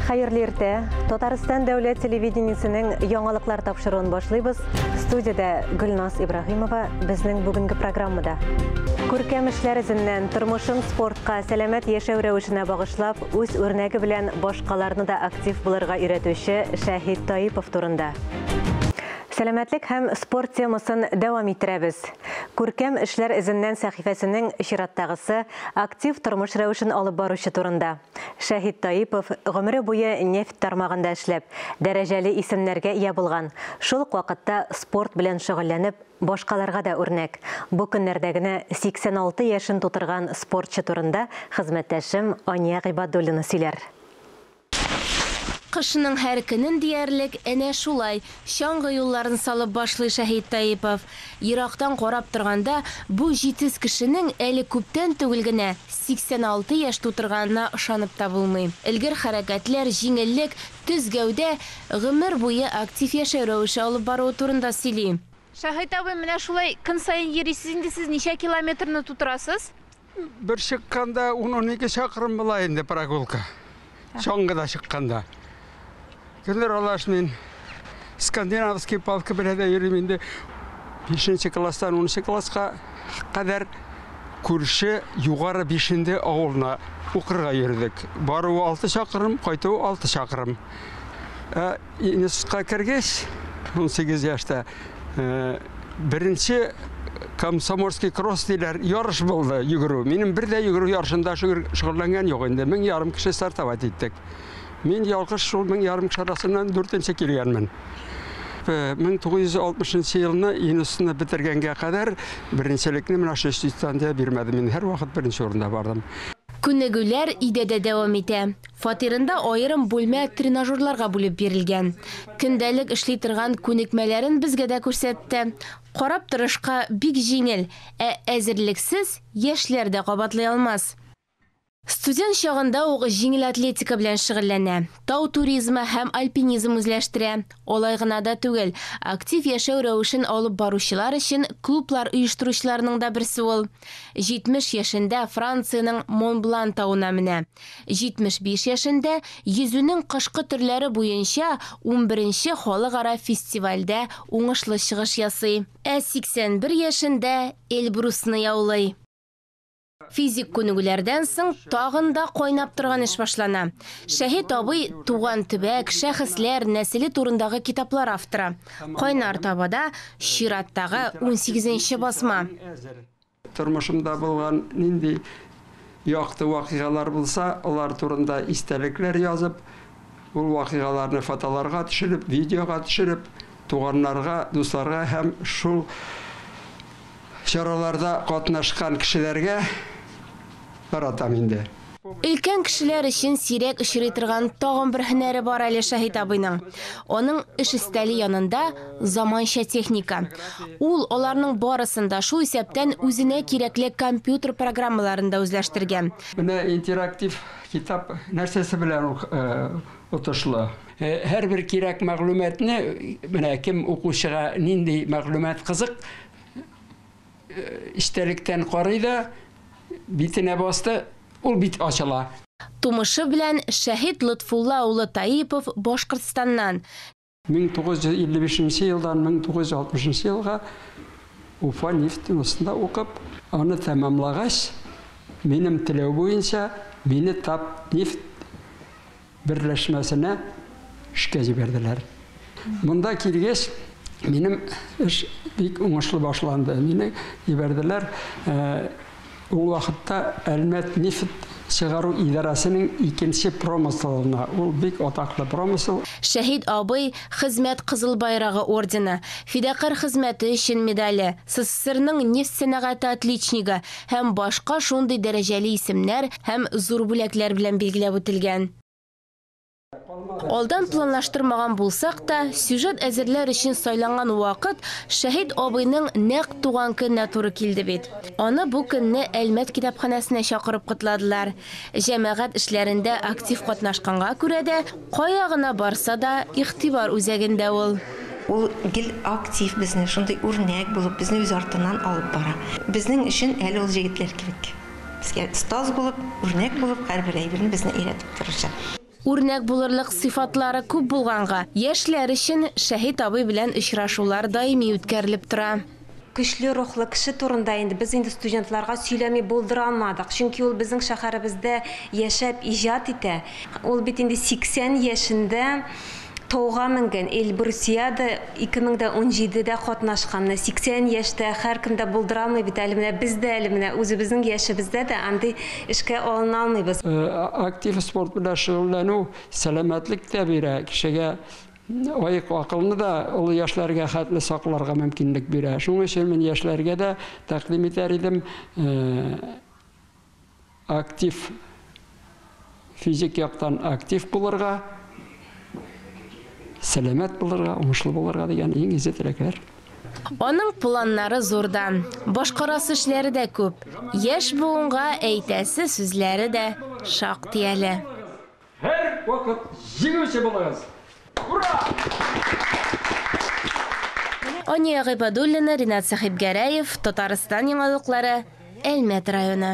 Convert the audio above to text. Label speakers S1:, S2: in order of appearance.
S1: Хәерле иртә. Татарстан дәүләт телевидениесенең яңалыклар тапшыруын башлыйбыз. Студиядә Гөлназ Ибраһимова безнең бүгенге программада. Күркәм эшләр эзеннән тормышын спортка, сәламәт яшәү рәвешенә багышлап, үз үрнәге белән башкаларны да актив булырга өйрәтүче Шәһид Таипов турында. Сәламәтлек һәм спорт темасын дәвам иттерәбез. Күркәм эшләр эзеннән сәхифәсенең чираттагысы актив тормыш рәвешен алып баручы турында. Шәһит Таипов, гомере буе нефть тармагында эшләп, дәрәҗәле исемнәргә ия булган, шул ук вакытта спорт белән шөгыльләнеп, башкаларга да үрнәк, бу көннәрдә генә 86 яшен тутырган спортчы турында хезмәттәшем Ания Гыйбадуллина сөйләр. Кышның һәр көнен диярлек әнә шулай чаңгы юлларын салып башлый Шәһит Таипов. Ерактан карап торганда, бу җитез кешенең әле күптән түгел генә 86 яшь тутырганына ышанып та булмый. Элгер хәрәкәтләр, җиңеллек, төз гәүдә, гомер буе актив яшәү рәвеше алып баруы турында сөйли. Шаһит абый, менә шулай көн саен йөрисез инде сез, ничә километрны тутырасыз? Бер чыкканда ун-унике чакрым була инде прогулка. Чаңгы да чыкканда. Гөлнур Алаш мин скандинавский палка белән дә йөрим инде. 5 класстан 10 класска кадәр күрше югары бишенде авылына укырга йөрдек. Баруы алты чакырым, кайтуы алты чакырым. Ә, Институтка кергәч, 18 яшьтә беренче комсомольский кросс диләр, ярыш булды йөгерү. Минем бер дә йөгерү ярышында шөгыльләнгән юк инде. Мең ярым кеше стартовать иттек. Мин ялгыш шул мең ярым кеше арасыннан дүртенче килгәнмен. 1960 э, елны институтны бетергәнгә кадәр беренчелекне менә шул институттан да бирмәдем. Мин һәрвакыт беренче урында бардым. Күнегүләр идәдә дәвам итә. Фатирында аерым бүлмә тренажерларга бүлеп бирелгән. Көндәлек эшли торган күнекмәләрен безгә дә күрсәтте. Карап торышка бик җиңел, ә әзерлексез яшьләр дә кабатлый алмас. Студент чагында ук җиңел атлетика белән шөгыльләнә, тау туризмы һәм альпинизм үзләштерә. Алай гына да түгел, актив яшәү рәвешен алып баручылар өчен клублар оештыручыларның да берсе ул. 70 яшендә Франциянең Монблан тавына менә. 75 яшендә йөзүнең кышкы төрләре буенча унберенче халыкара фестивальдә уңышлы чыгыш ясый. Ә 81 яшендә Эльбрусны яулый. Физик күнегүләрдән соң тагын да кайнап торган эш башлана. Шәһит абый туган төбәк, шәхесләр нәселе турындагы китаплар авторы. Кайнар табада чираттагы унсигезенче басма. Тормышымда булган нинди якты вакыйгалар булса, алар турында истәлекләр язып, ул вакыйгаларны фотоларга төшереп, видеога төшереп, туганнарга, дусларга һәм шул чараларда катнашкан кешеләргә таратам инде. Өлкән кешеләр өчен сирәк очрый торган тагын бер һөнәре бар әле Шаһит абыйның. Аның эш өстәле янында заманча техника. Ул аларның барысын да, шул исәптән үзенә кирәкле компьютер программаларын да үзләштергән. Менә интерактив китап нәрсәсе белән отышлы? Һәрбер кирәк мәгълүматны, менә кем укучыга нинди мәгълүмат кызык, Эчтәлектән карый да, битенә басты, ул бит ачыла. Тумышы белән Шәһит Лотфулла улы Таипов Башкортстаннан. 1955 нче елдан 1960 нчы елга Уфа нефтеносында укып, аны тәмамлагач, минем теләү буенча, мине Татнефть берләшмәсенә эшкә җибәрделәр. Монда килгәч, минем эш бик уңышлы башланды. Мине җибәрделәр. Ул вакытта Әлмәт нефть чыгару идарәсенең икенче промыслына, ул бик атаклы промысл. Шәһит абый, Хезмәт Кызыл Байрагы ордены, Фидакарь хезмәте өчен медале, СССРның нефть сәнәгате отличнигы, һәм башка шундый дәрәҗәле исемнәр һәм зур бүләкләр белән билгеләп үтелгән. Алдан планлаштырмаган булсак та, сюжет әзерләр өчен сайланган вакыт Шәһит абыйның нәкъ туган көненә туры килде бит. Аны бу көнне Әлмәт китапханәсенә чакырып котладылар. Җәмәгать эшләрендә актив катнашканга күрә дә, кая гына барса да, игътибар үзәгендә ул. Ул гел актив, безне шундый үрнәк булып, безне үз артыннан алып бара. Безнең өчен әле ул җегетләр кирәк. Безгә остаз булып, үрнәк булып, һәрбер әйберне безне өйрәтеп торучы. Үрнәк булырлык сыйфатлары күп булганга, яшьләр өчен Шәһит абый белән очрашулар даими үткәрелеп тора. Көчле рухлы кеше турында инде без инде студентларга сөйләми булдыра алмадык, чөнки ул безнең шәһәребездә яшәп иҗат итә. Ул бит инде 80 яшендә Тауга менгән Эльбрусиада 2017 дә катнашкан. Менә 80 яшьтә һәркем дә булдырамый бит әле. Менә без дә әле менә үзебезнең яшебездә дә андый эшкә алына алмыйбыз. Актив спорт белән шөгыльләнү сәламәтлек тә бирә, кешегә аек акылны да олы яшьләргә хәтле сакларга мөмкинлек бирә. Шуның өчен мин яшьләргә дә тәкъдим итәр идем. актив, физик яктан актив булырга, сәламәт булырга, уңышлы булырга дигән иң изге теләкләр. Аның планнары зурдан, башкарасы эшләре дә күп, яшь буынга әйтәсе сүзләре дә шактый әле. Һәр вакыт җиңүче булыгыз! Ания Гыйбадуллина, Ринат Сәхипгәрәев, Татарстан яңалыклары, Әлмәт районы.